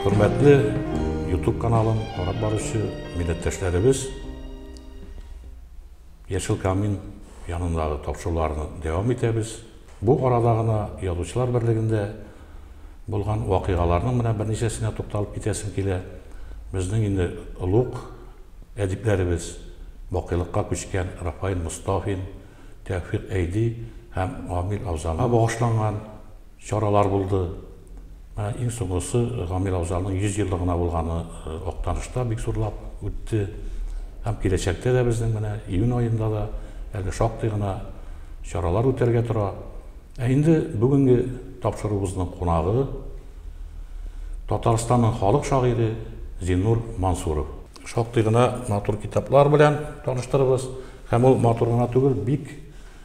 Хөрмәтле YouTube каналын карап баручы милләттәшләребез, Яшел камин янындагы тапшыруларны дәвам итәбез. Бу арада гына Язучылар берлегендә булган вакыйгаларның менә берничәсенә тукталып китәсем килә. Безнең инде олуг әдипләребез, бакыйлыкка күчкән Рафаил Мостафин, Тәүфыйк Әйди һәм Гамил Авзамга багышланган, Чаралар булды. Менә иң соңгысы Гамир абзарның 100 еллыгына булганы Актанышта бик зурлап үтте. Һәм киләчәктә дә безнең менә июнь аенда да әле шактый гына чаралар үтәргә тора. Ә инде бүгенге тапшыруыбызның кунагы, Татарстанның халык шагыйре Зиннур Мансуров. Шактый гына матур китаплар белән таныштырырбыз. Һәм ул матур гына түгел, бик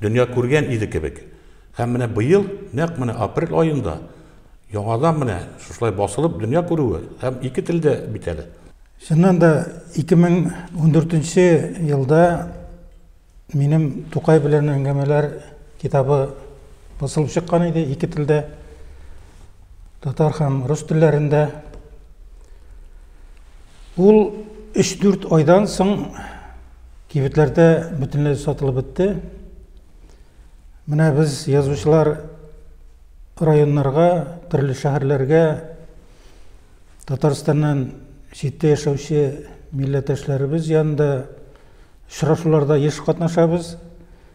дөнья күргән иде кебек. Һәм менә быел, нәкъ менә апрель аенда, яңадан менә шушылай басылып дөнья күрүе, һәм ике телдә бит әле. Чыннан да, 2014 нче елда минем Тукай белән әңгәмәләр китабы басылып чыккан иде, ике телдә. татар һәм рус телләрендә. Ул 3-4 айдан соң кибетләрдә бөтенләй сатылып бетте. Менә без язучылар районнарга, төрле шәһәрләргә Татарстаннан читтә яшәүче милләттәшләребез янында очрашуларда еш катнашабыз.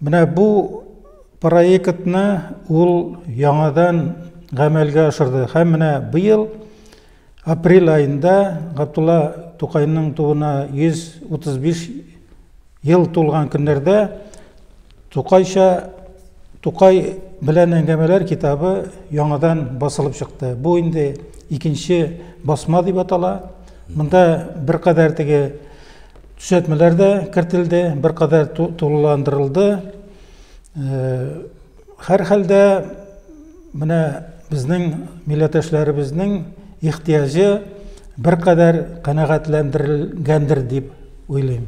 Менә бу проектны ул яңадан гамәлгә ашырды һәм менә быел апрель аенда Габдулла Тукайның тууына 135 ел тулган көннәрдә Тукайча Тукай белән әңгәмәләр китабы яңадан басылып чыкты. Бу инде икенче басма дип атала. Монда беркадәр теге Төзәтмәләр дә кертелде, беркадәр тулыландырылды. Һәрхәлдә, менә безнең милләттәшләребезнең ихтыяҗы беркадәр канәгатьләндерелгәндер дип уйлыйм.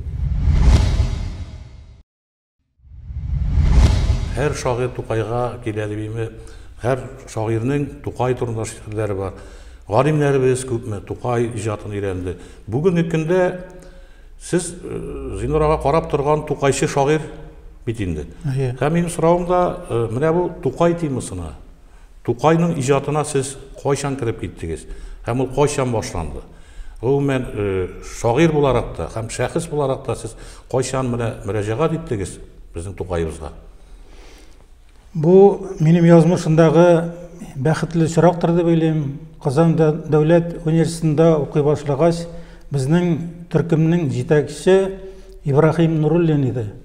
Һәр шагыйрь Тукайга килә дип име, һәр шагыйрьнең Тукай турында шигырьләре бар. Галимнәребез күпме Тукай иҗатын өйрәнде. Бүгенге көндә сез э, Зинур ага карап торган Тукайчы шагыйрь бит инде. Һәм минем соравым да э, менә бу Тукай темасына. Тукайның иҗатына сез кайчан кереп киттегез һәм ул кайчан башланды? Гомумән, шагыйрь буларак та һәм шәхес буларак та сез кайчан менә мөрәҗәгать иттегез безнең Тукаебызга? Бу минем язмышымдагы бәхетле очрактыр дип уйлыйм. Казан дәүләт университетында укый башлагач, безнең төркемнең җитәкче Ибраһим Нуруллин иде.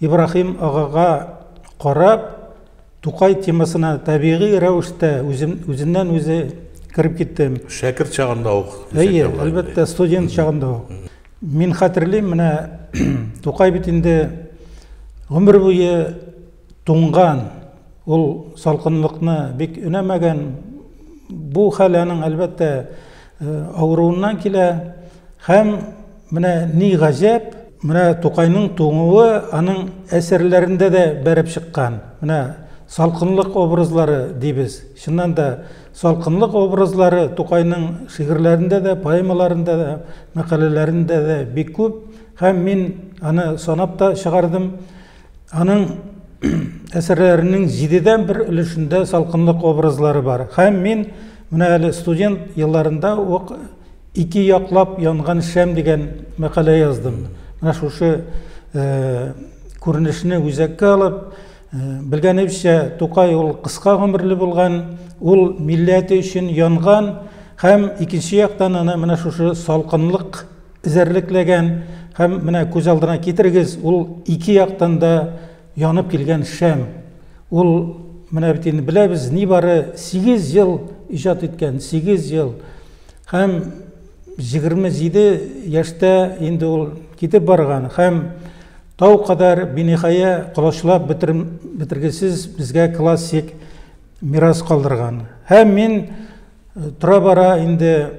Ибраһим агага карап, Тукай темасына табигый рәвештә үзем, үзеннән-үзе кереп киттем. Шәкерт чагында ук. Әйе, әлбәттә, студент чагында ук. Мин хәтерлим, менә Тукай бит инде гомер буе Туңган, ул салкынлыкны бик өнәмәгән. Бу хәл аның, әлбәттә, авыруыннан килә. Һәм менә ни гаҗәп, менә Тукайның туңуы аның әсәрләрендә дә бәреп чыккан. Менә салкынлык образлары дибез. Чыннан да, салкынлык образлары Тукайның шигырьләрендә дә, поэмаларында да, мәкаләләрендә дә бик күп. Һәм мин аны санап та чыгардым. Аның әсәрләренең җидедән бер өлешендә салкынлык образлары бар. Һәм мин менә әле студент елларында ук ике яклап янган шәм дигән мәкалә яздым. Менә шушы э, күренешне үзәккә алып, э, белгәнебезчә, Тукай ул кыска гомерле булган, ул милләте өчен янган һәм икенче яктан аны менә шушы салкынлык эзәрлекләгән һәм менә күз алдына китерегез, ул ике яктан да янып килгән шәм. Ул менә бит инде беләбез, нибары 8 ел иҗат иткән, 8 ел. Һәм 27 яшьтә инде ул китеп барган һәм тау кадәр биниһая колачлап бетергесез безгә классик мирас калдырган. Һәм мин Тора-бара инде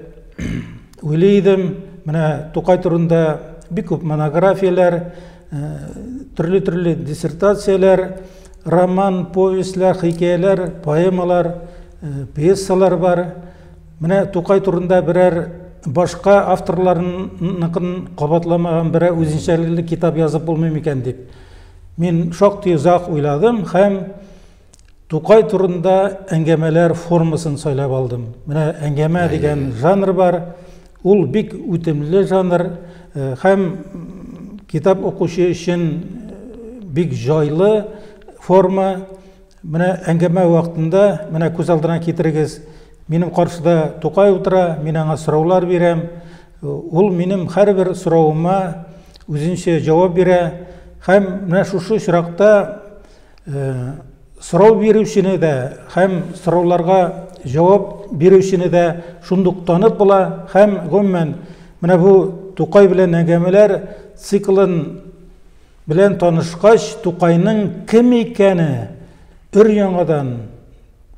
уйлый идем, менә Тукай турында бик күп монографияләр, төрле-төрле диссертацияләр, роман, повестьләр, хикәяләр, поэмалар, пьесалар бар. Менә Тукай турында берәр башка авторларныкын кабатламаган берәр үзенчәлекле китап язып булмый микән дип. Мин шактый озак уйладым һәм Тукай турында әңгәмәләр формасын сайлап алдым. Менә әңгәмә дигән жанр бар. Ул бик үтемле жанр э, һәм китап укучы өчен э, бик җайлы форма. Менә әңгәмә вакытында, менә күз алдына китерегез, минем каршыда Тукай утыра, мин аңа сораулар бирәм. Э, ул минем һәрбер соравыма үзенчә җавап бирә һәм менә шушы очракта сорау бирүчене дә һәм сорауларга җавап бирүчене дә шундук танып була һәм гомумән менә бу Тукай белән әңгәмәләр циклын белән танышкач, Тукайның кем икәне өр-яңадан,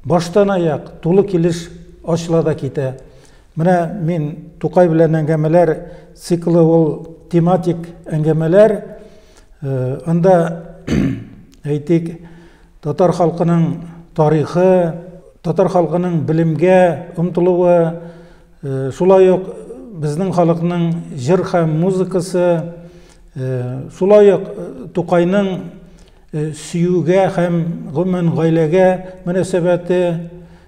баштанаяк тулы килеш ачыла да китә. Менә мин Тукай белән әңгәмәләр циклы ул тематик әңгәмәләр, Анда, әйтик, татар халкының тарихы, татар халкының белемгә омтылуы, шулай ук безнең халыкның җыр һәм музыкасы, шулай ук Тукайның сөюгә һәм гомумән гаиләгә мөнәсәбәте,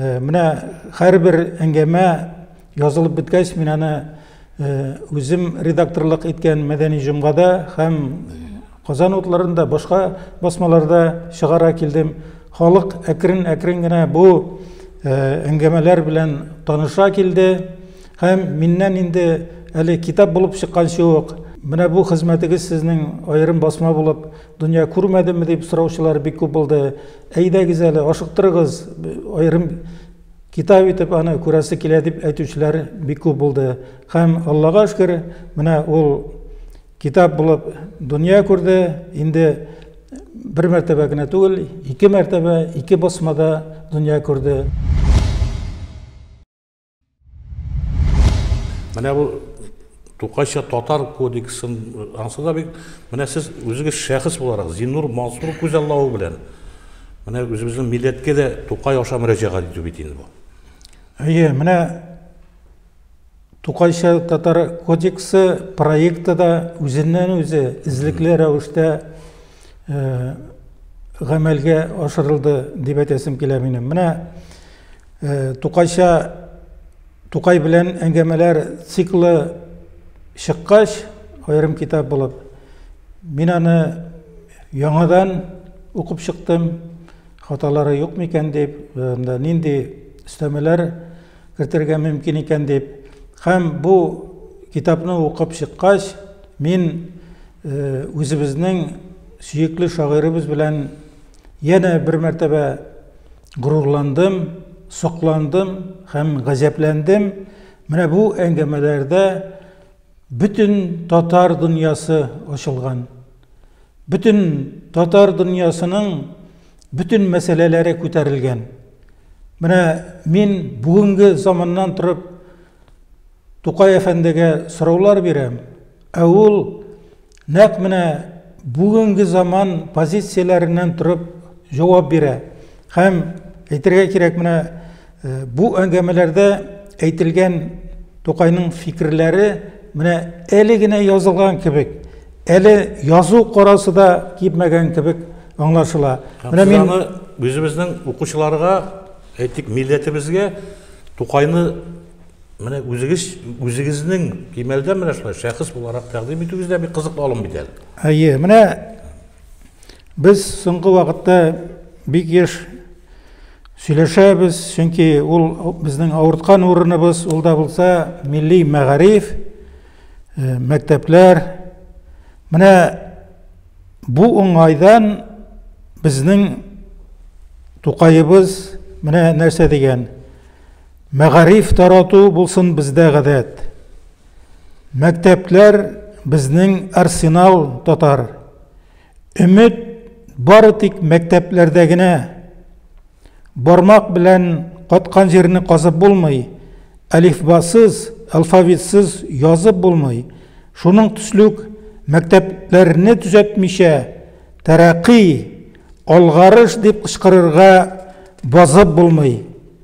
Э, менә һәрбер әңгәмә язылып беткәч мин аны э, үзем редакторлык иткән мәдәни җомгада һәм казан утларында башка басмаларда чыгара килдем халык әкрен әкрен генә бу э, әңгәмәләр белән таныша килде һәм миннән инде әле китап булып чыкканчы ук менә бу хезмәтегез сезнең аерым басма булып Дөнья күрмәдемме дип сораучылар бик күп булды. Әйдәгез әле, ашыктырыгыз, аерым китап итеп аны күрәсе килә дип әйтүчеләр бик күп булды. Һәм Аллага шөкер, менә ул китап булып дөнья күрде. Инде бер мәртәбә генә түгел, ике мәртәбә, ике басмада дөнья күрде. Менә бу Тукайча татар кодексын ансы да бик менә сез үзегез шәхес буларак Зиннур Мансур күзаллавы белән менә үзебезнең милләткә дә Тукай аша мөрәҗәгать итү бит инде бу. Әйе, менә Тукайча татар кодексы проекты да үзеннән үзе эзлекле рәвештә гамәлгә ашырылды дип әйтәсем килә минем. Менә Тукайча Тукай белән әңгәмәләр циклы чыккач, аерым китап булып, мин аны яңадан укып чыктым. Хаталары юк микән дип, анда нинди өстәмәләр кертергә мөмкин икән дип. Һәм бу китапны укып чыккач, мин үзебезнең сөекле шагыйребез белән янә бер мәртәбә горурландым, сокландым һәм газәпләндем. Менә бу әңгәмәләрдә бөтен татар дөньясы ачылган. Бөтен татар дөньясының бөтен мәсьәләләре күтәрелгән. Менә мин бүгенге заманнан торып Тукай әфәндегә сораулар бирәм, ә ул нәкъ менә бүгенге заман позицияләреннән торып җавап бирә. Һәм әйтергә кирәк, менә бу әңгәмәләрдә әйтелгән Тукайның фикерләре менә әле генә язылган кебек, әле язу карасы да кипмәгән кебек аңлашыла. Менә мин аны үзебезнең укучыларга, әйтик, милләтебезгә Тукайны Менә үзегез үзегезнең кимәлдә менә шулай шәхес буларак тәкъдим итүегез дә бик кызыклы алым бит әле. Әйе, менә без соңгы вакытта бик еш сөйләшәбез, чөнки ул безнең авырткан урыныбыз, ул да булса милли мәгариф, э, мәктәпләр. Менә бу уңайдан безнең Тукаебыз менә нәрсә дигән. Мәгариф тарату булсын бездә гадәт. Мәктәпләр безнең арсенал татар. Өмет бары тик мәктәпләрдә генә. Бармак белән каткан җирне казып булмый, әлифбасыз, алфавитсыз язып булмый. Шуның төслүк мәктәпләрне төзәтмичә, тәрәкый, алгарыш дип кычкырырга базып булмый.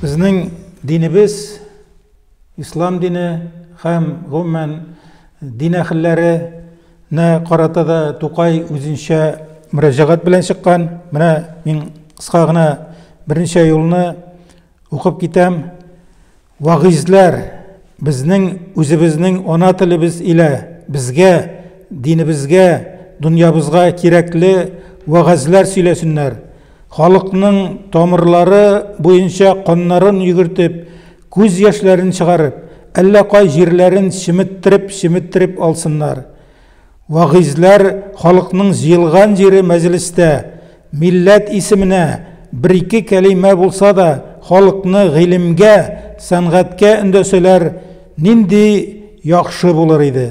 Безнең динебез, ислам дине һәм гомумән дин әһелләренә карата да Тукай үзенчә мөрәҗәгать белән чыккан. Менә мин кыска гына берничә юлны укып китәм. Вагыйзьләр, безнең үзебезнең ана телебез илә безгә, динебезгә, дөньябызга кирәкле вәгазьләр сөйләсеннәр, халыкның тамырлары буенча каннарын йөгертеп, күз яшьләрен чыгарып, әллә кай җирләрен чеметтереп-чеметтереп алсыннар. Вагыйзьләр халыкның җыелган җире мәҗлестә, милләт исеменә бер-ике кәлимә булса да халыкны гыйлемгә, сәнгатькә өндәсәләр, нинди яхшы булыр иде.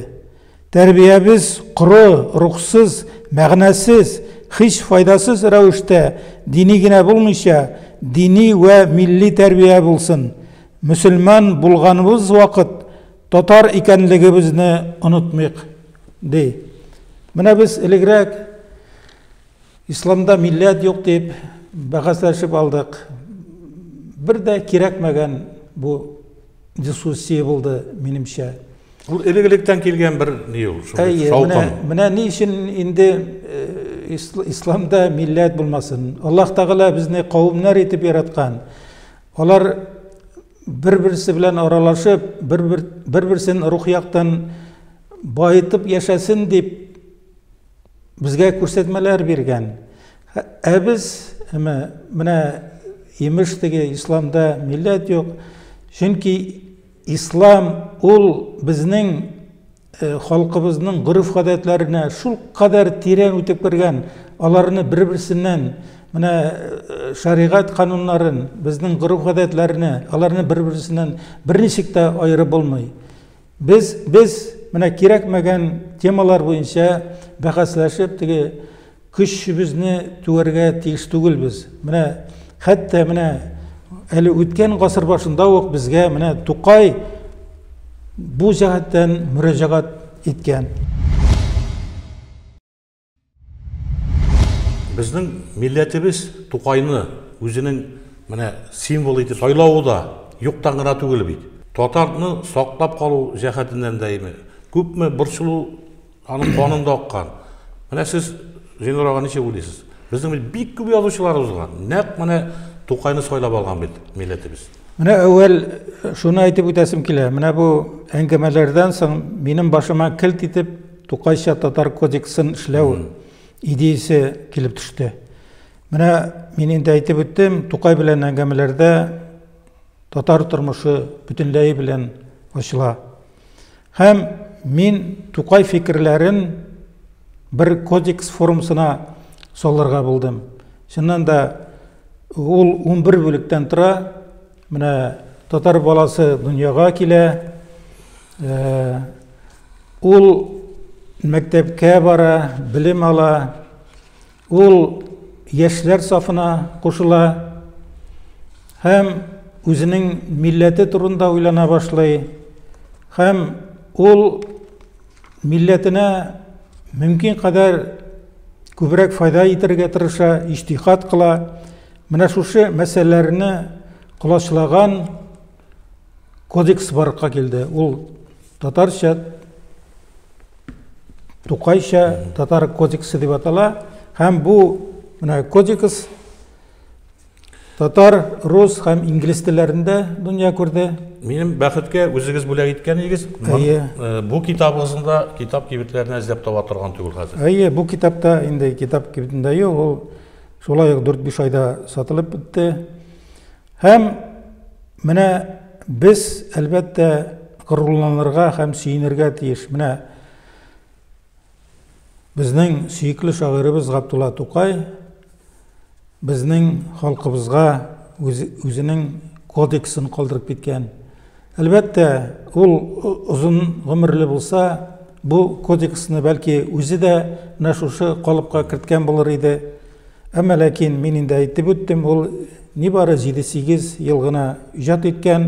Тәрбиябез коры, рухсыз, мәгънәсез, һич файдасыз рәвештә дини генә булмыйча, дини вә милли тәрбия булсын. Мөселман булганыбыз вакыт Татар икәнлегебезне онытмыйк, ди. Менә без элегрәк исламда милләт юк дип бәхәсләшеп алдык. Бер дә кирәкмәгән бу дискуссия булды, минемчә. Ул элек-электән килгән бер ни ул, шундый шаукым. Менә ни өчен инде э, исламда милләт булмасын. Аллаһ Тәгалә безне кавымнар итеп яраткан. Алар бер-берсе белән аралашып, бер-берсен рух яктан баетып яшәсен дип безгә күрсәтмәләр биргән. Ә без менә имеш теге исламда милләт юк. Чөнки ислам ул безнең Э, халкыбызның гореф-гадәтләренә шул кадәр тирән үтеп кергән, аларны бер-берсеннән менә э, шәригать кануннарын, безнең гореф-гадәтләрне, аларны бер-берсеннән берничек тә аерып булмый. Без без менә кирәкмәгән темалар буенча бәхәсләшеп, теге Көчебезне түәргә тиеш түгелбез. Менә хәтта менә әле үткән гасыр башында ук безгә менә Тукай бу җәһәттән мөрәҗәгать иткән. Безнең милләтебез Тукайны үзенең менә символы итеп сайлавы да юктан гына түгел бит. Татарны саклап калу җәһәтеннән дә күпме борчылу Аның канында аккан. Менә сез Зинур ага ничек уйлыйсыз? Безнең бит бик күп язучылар узган. Нәкъ менә Тукайны сайлап алган бит милләтебез. Менә әүвәл э, шуны әйтеп үтәсем килә. Менә бу әңгәмәләрдән соң минем башыма килт итеп Тукайча татар кодексын эшләү идеясе килеп төште. Менә мин инде әйтеп үттем, Тукай белән әңгәмәләрдә татар тормышы бөтенләй белән ачыла. Һәм мин Тукай фикерләрен бер кодекс формасына салырга булдым. Чыннан да ул 11 бүлектән тора. Менә татар баласы дөньяга килә. Э, ул мәктәпкә бара, белем ала. Ул яшьләр сафына кушыла һәм үзенең милләте турында уйлана башлый һәм ул милләтенә мөмкин кадәр күбрәк файда итәргә тырыша, иҗтихад кыла. Менә шушы мәсьәләләрне колачлаган кодекс барлыкка килде. Ул татарча, тукайча татар кодексы дип атала. Һәм бу менә кодекс татар, рус һәм инглиз телләрендә дөнья күрде. Минем бәхеткә үзегез бүләк иткәнегез э, бу китабыгызны да китап кибетләренә эзләп таба торган түгел хәзер. Әйе, бу китапта инде китап кибетендә юк, ул шулай ук 4-5 айда сатылып бетте. Һәм менә без, әлбәттә, горурланырга һәм сөенергә тиеш. Менә безнең сөекле шагыйребез Габдулла Тукай безнең халкыбызга үзенең кодексын калдырып киткән. Әлбәттә, ул озын гомерле булса, бу кодексны бәлки үзе дә менә шушы калыпка керткән булыр иде. Әмма ләкин, мин инде әйтеп үттем, ул нибары җиде-сигез ел гына иҗат иткән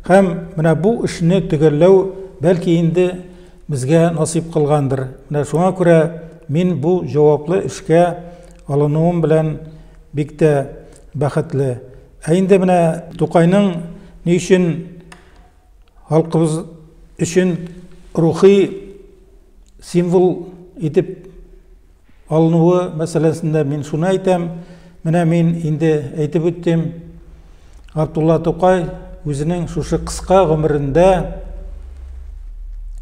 һәм менә бу эшне төгәлләү бәлки инде безгә насыйп кылгандыр. Менә шуңа күрә мин бу җаваплы эшкә алынуым белән бик тә бәхетле. Ә инде менә Тукайның ни өчен халкыбыз өчен рухи символ итеп алынуы мәсьәләсендә мин шуны әйтәм, менә мин инде әйтеп үттем, Габдулла Тукай үзенең шушы кыска гомерендә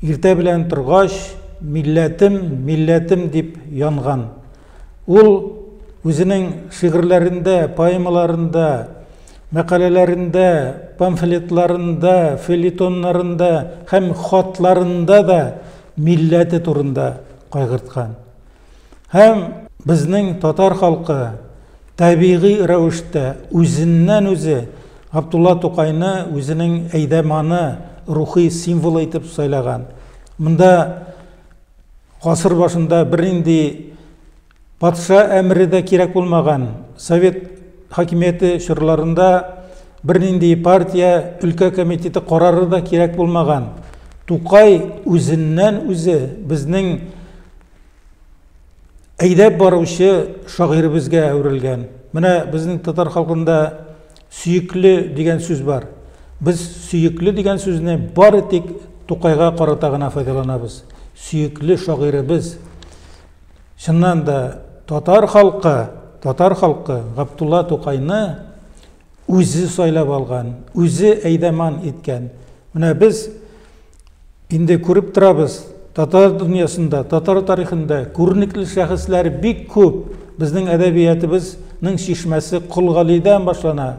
иртә белән торгач, милләтем, милләтем дип янган. Ул үзенең шигырьләрендә, поэмаларында, мәкаләләрендә, памфлетларында, фельетоннарында һәм хатларында да милләте турында кайгырткан. Һәм безнең татар халкы табигый рәвештә үзеннән-үзе Абдулла Тукайны үзенең әйдәманы, рухи символы итеп сайлаган. Монда гасыр башында бернинди Патша әмере дә кирәк булмаган. Совет хакимияте чорларында бернинди партия өлкә комитеты карары да кирәк булмаган. Тукай үзеннән-үзе безнең әйдәп баручы шагыйребезгә әверелгән. Менә безнең татар халкында сөекле дигән сүз бар. Без сөекле дигән сүзне бары тик Тукайга карата гына файдаланабыз. Сөекле шагыйребез. Чыннан да татар халкы, татар халкы Габдулла Тукайны үзе сайлап алган, үзе әйдәман иткән. Менә без инде күреп торабыз, татар дөньясында, татар тарихында күренекле шәхесләр бик күп. Безнең әдәбиятыбызның чишмәсе Кол Галидән башлана.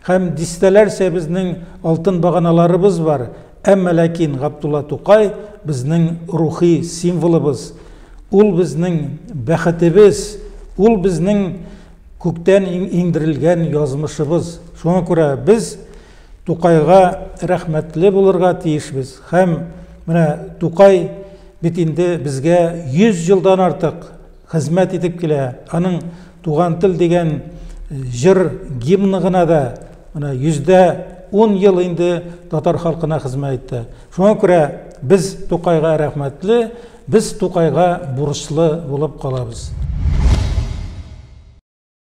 Һәм дистәләрчә безнең алтын баганаларыбыз бар. Әмма ләкин Габдулла Тукай безнең рухи символыбыз, ул безнең бәхетебез, ул безнең күктән иңдерелгән язмышыбыз. Шуңа күрә без Тукайга рәхмәтле булырга тиешбез һәм менә Тукай бит инде безгә 100 елдан артык хезмәт итеп килә. Аның Туган тел дигән җыр гимны гына да менә йөздә ун ел инде татар халкына хезмәт итте. Шуңа күрә без Тукайга рәхмәтле, без Тукайга бурычлы булып калабыз.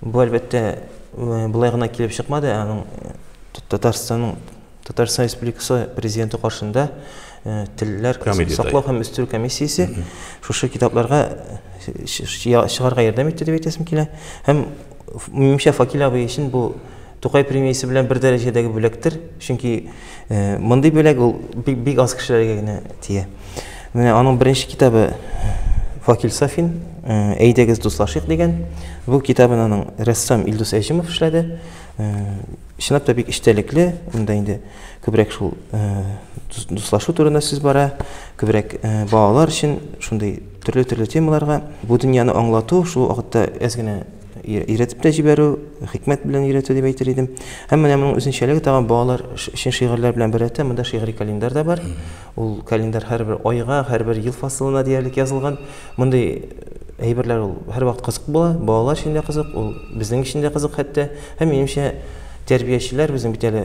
Бу, әлбәттә, болай гына килеп чыкмады, аның Татарстанның Татарстан Республикасы президенты каршында телләр саклау һәм үстерү комиссиясе шушы китапларга чыгарга ярдәм итте дип әйтәсем килә. Һәм, минемчә, Факил абый өчен бу Тукай премиясе белән бер дәрәҗәдәге бүләктер, чөнки мондый бүләк ул бик, бик аз кешеләргә генә тия. Менә аның беренче китабы Факил Сафин, Әйдәгез дуслашыйк дигән. Бу китабын аның рәссам Илдус Әҗимов эшләде. Чынлап та бик эчтәлекле, монда инде күбрәк шул дуслашу турында сүз бара, күбрәк балалар өчен шундый төрле-төрле темаларга бу дөньяны аңлату, шул вакытта әз генә өйрәтеп тә җибәрү, хикмәт белән өйрәтү дип әйтер идем. Һәм менә моның үзенчәлеге тагын балалар өчен шигырьләр белән беррәттә монда шигъри календарь да бар. Ул календарь һәрбер айга, һәрбер ел фасылына диярлек язылган. Мондый әйберләр ул һәрвакыт кызык була, балалар өчен дә кызык, ул безнең өчен дә кызык хәтта. Һәм минемчә, тәрбиячеләр үзен бит әле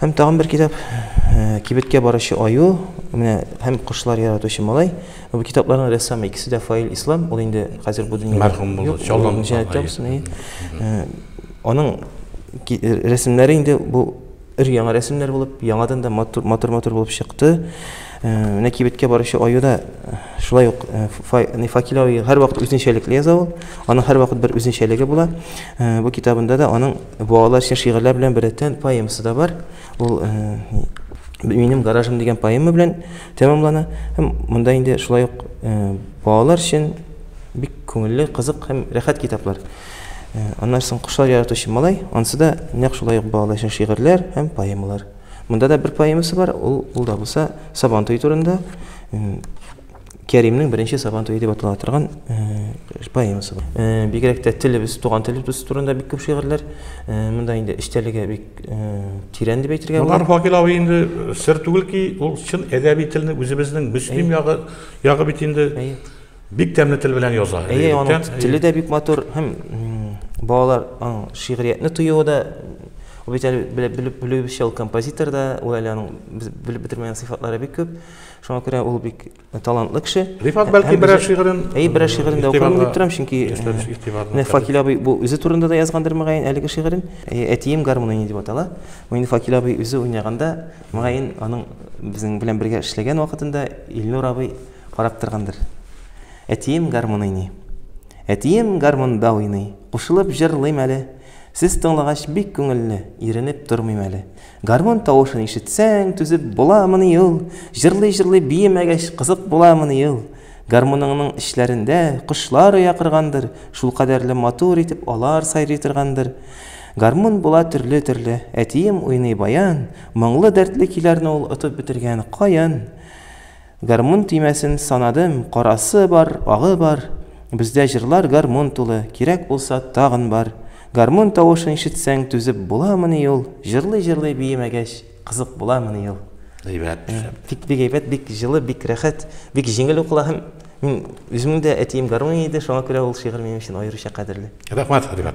Һәм тагын бер китап, Кибеткә баручы аю, менә һәм Кошлар яратучы малай. Бу китапларның рәссамы икесе дә Фаил Ислам, ул инде хәзер бу дөньяда мәрхүм булды, чаллан җәнәттә булсын. Аның рәсемнәре инде бу өр-яңа рәсемнәр булып, яңадан да матур-матур булып чыкты. Менә кибеткә баручы аюда шулай ук Факилави һәрвакыт үзенчәлекле яза ул. Аның һәрвакыт бер үзенчәлеге була. Бу китабында да аның Бу алар өчен шигырьләр белән беррәттән поэмасы да бар. Ул Минем гаражым дигән поэма белән тәмамлана. Һәм монда инде шулай ук балалар өчен бик күңелле, кызык һәм рәхәт китаплар. Аннан соң кошлар яратучы малай, ансы да нәкъ шулай ук балалар өчен шигырьләр һәм поэмалар. Монда да бер поэмасы бар, ул, ул да булса Сабантуй турында. Кәримнең беренче Сабан туе дип атала торган поэмасы бар. Бигрәк тә телебез, туган телебез турында бик күп шигырьләр. Монда инде эчтәлеге бик тирән дип әйтергә була. Моннан Факил абый инде сер түгел ки, ул чын әдәби телне үзебезнең Мөслим ягы, ягы бит инде бик тәмле тел белән яза. Әйе, аның теле дә бик матур һәм балалар шигъриятне тоюы да бит әле белеп белүебезчә ул композитор да, ул әле аның белеп бетермәгән сыйфатлары бик күп. Шуңа күрә ул бик талантлы кеше. Рифат бәлки берәр шигырен Әй, берәр шигырен дә укырмын дип торам, чөнки менә Факил абый бу үзе турында да язгандыр мөгаен әлеге шигырен. Әтием гармун уйный дип атала. Бу инде Факил абый үзе уйнаганда, мөгаен аның безнең белән бергә эшләгән вакытында Илнур абый карап торгандыр. Әтием гармун уйный. Әтием гармунда уйный. Кушылып җырлыйм әле. Сез тыңлагач бик күңелле, иренеп тормыйм әле. Гармун тавышын ишетсәң, түзеп буламыни ул? Җырлый-җырлый биемәгәч, кызык буламыни ул? Гармуныңның эчләрендә кошлар оя коргандыр, шулкадәрле матур итеп алар сайрый торгандыр. Гармун була төрле-төрле. Әтием уйный баян, моңлы-дәртле көйләрне ул отып бетергән, каен. Гармун төймәсен санадым, Карасы бар, агы бар, Бездә җырлар гармун тулы, Кирәк булса, тагын бар. Гармун тавышын ишетсәң, Түзеп буламыни ул? Җырлый-җырлый биемәгәч, Кызык буламыни ул? Әйбәт, шәп. Бик, бик әйбәт, бик җылы, бик рәхәт, бик җиңел укыла һәм мин үземнең дә әтием гармони иде, шуңа күрә ул шигырь минем өчен аеруча кадерле. Рәхмәт, Хәлимә.